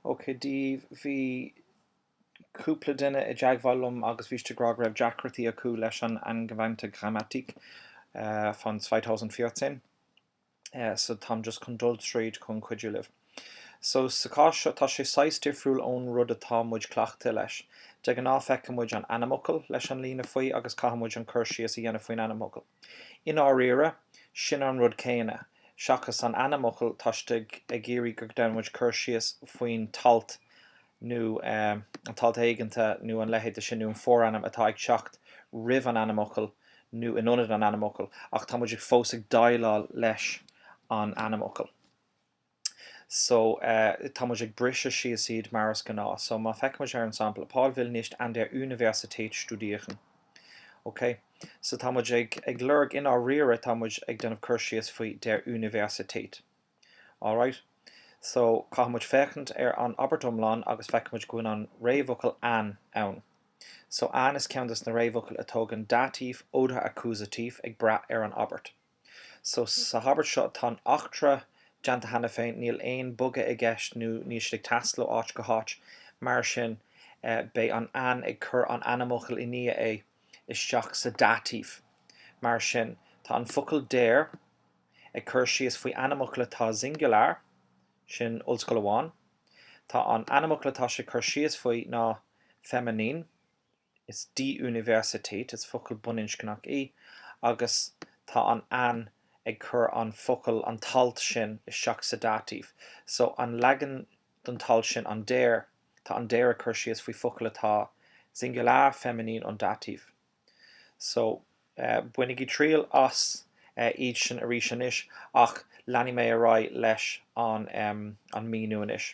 OK. Bhí cúpla duine i dteagmháil liom agus bhí siad ag rá go raibh deacrachtaí acu leis an angewandte Grammatik von 2014. So táim just chun dul tríd chun cuidiú libh. So, sa chás seo tá sé saghas difriúil ón rud atá muid cleachtaithe leis. De ghnáth feiceann muid an ainmfhocal leis an líne faoi agus caithfidh muid an cur síos a dhéanamh faoin ainmfhocal. I ndáiríre, sin an rud céanna, seachas an ainmfhocal tá siad ag iarraidh go ndéanann muid cur síos faoin t-alt nó an t-alt éiginnte nó an leithéid de sin nó an forainm atá ag teacht roimh an ainmfhocal nó in ionad an ainmfhocal ach tá muid ag fós ag déileáil leis an ainmfhocal. so eh tá muid ag briseadh síos iad mar is gnáth so má feicimid ar an sampla Paul will nicht an der Universität studieren ok so tá muid ag ag lorg i ndáiríre tá muid ag déanamh cur síos faoi der Universität alright so caithfidh muid féachaint ar an abairt iomlán agus feicimid go bhfuil an réamhfhocal an ann so an is ceann de na réamhfhocail a thógann Dativ oder Akkusativ ag brath ar an abairt. So, sa habairt seo, tá an eachtra déanta cheana féin, níl aon bogadh i gceist nó níl siad ag taisteal ó áit go háit. Mar sin, beidh an an ag cur an ainmfhocal i ndiaidh é isteach sa Dativ. Mar sin, tá an focal der ag cur síos faoi ainmfhocal atá singular, sin ollscoil amháin. Tá an ainmfhocal atá sé ag cur síos faoi ná feminin. Is die Universität, is focal baininscneach í, agus tá an An ag cur an focal an t-alt sin isteach sa Dativ. So an leagan den t-alt sin an der, tá an der ag cur síos faoi focal atá singular, feminin und Dativ. So bainigí triail as iad sin arís anois, ach leanfaidh mé ar aghaidh leis an míniú anois.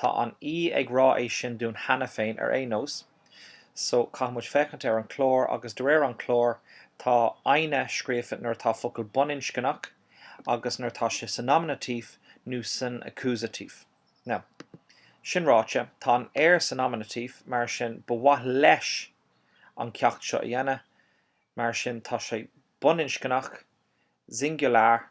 Tá an E ag rá é sin dúinn cheana féin ar aon nós so caithfidh muid féachaint ar an clár agus de réir an clár tá eine scríofa nuair atá focal baininscneach agus nuair atá sé sa Nominativ nó san Akkusativ. Now, sin ráite, tá an er sa Nominativ mar sin ba mhaith leis an ceacht seo a dhéanamh mar sin tá sé baininscneach, singular,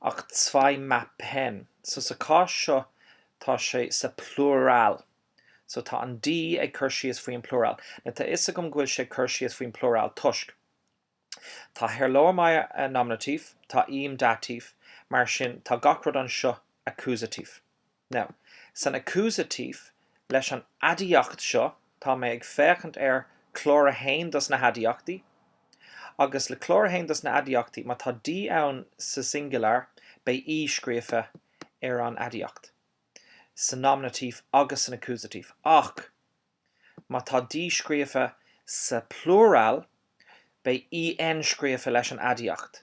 Ach zwei Mappen. So sa cás seo tá sé sa plural. So tá an die ag cur síos faoi an plural. Now tá fhios agam go bhfuil sé ag cur síos faoin plural toisc. Tá Herr Lohmeier Nominativ, tá ihm Dativ, mar sin tá gach rud anseo Akkusativ. Now, san accusative leis an aidiacht seo, tá mé ag féachaint ar chlár a haon dos na haidiachtaí, agus le clár a haon dos na aidiachtaí, má tá die ann sa singular, beidh E scríofa ar an aidiacht, sa nominative agus san accusative. Ach má tá die scríofa sa plural, beidh EN scríofa leis an aidiacht,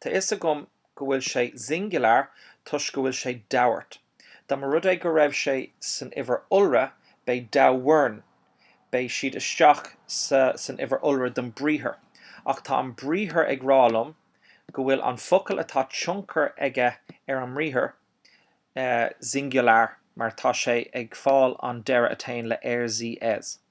Tá fhios agam go bhfuil sé singular toisc go bhfuil sé dauert. Dá mba rud é go raibh sé san uimhir iolra, beidh dauern, beidh siad isteach sa san uimhir iolra don briathar. Ach tá an briathar ag rá liom go bhfuil an focal atá tionchar aige ar an mbriathar eh singular mar tá sé ag fáil an deireadh a théann le er, sie, es.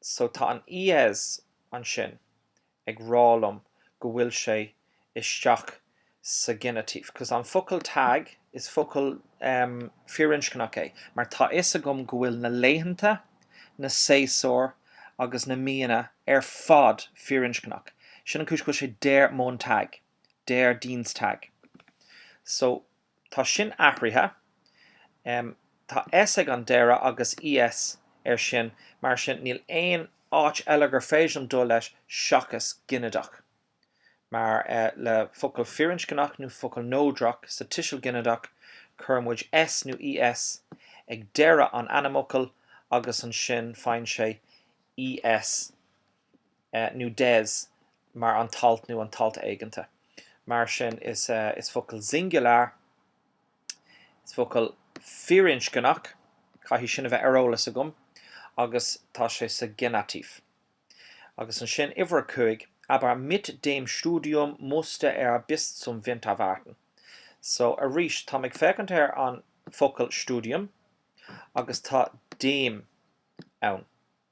So tá an ES ansin ag rá liom go bhfuil sé isteach sa Genitiv, cos an focal Tag, is focal firinscneach é, mar tá fhios agam go bhfuil na laethanta, na séasúir agus na míonna ar fad firinscneach. Sin an chúis go bhfuil sé Der Montag, Der Dienstag. So Tá sin athraithe. Tá S ag an deireadh agus ES air sin, mar sin níl aon áit eile gur féidir dul leis seachas ginideach. Mar le focal firinscneach nó focal neodrach sa tuiseal ginideach cuireann muid S nó ES ag deireadh an ainmfhocail agus ansin faigheann sé ES. nó des mar an t-alt nó an t-alt éiginnte. Mar sin is focal singular, is focal firinscneach, caithfidh sin a bheith ar eolas agam, agus tá sé sa Genitiv. Agus ansin uimhir a cúig, aber mit dem Studium musste er bis zum Winter warten. So arís táim ag féachaint ar an focal Studium agus tá dem ann.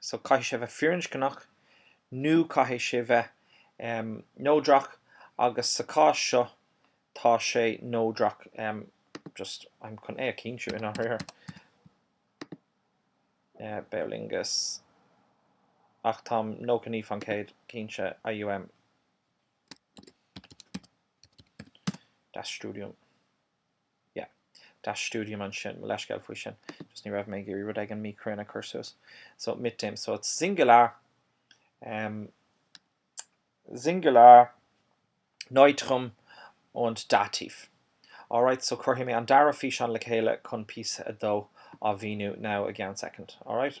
So caithfidh sé bheith firinscneach nó caithfidh sé bheith neodrach agus sa chás seo tá sé neodrach just em chun é a chinntiú in áit ar Beolingus ach táim nócha naoi faoin gcéad cinnte IUM Das Studium. yeah. Das Studium ansin, mo leithscéal faoi sin, just ní raibh mé ag iarraidh rud éigin míchruinn a chur suas. So, mit dem, so it's singular, um, singular, neutrum und dativ. Alright, so cuirfidh mé an dara físeán le chéile chun píosa a dó a mhíniú now i gceann second, alright?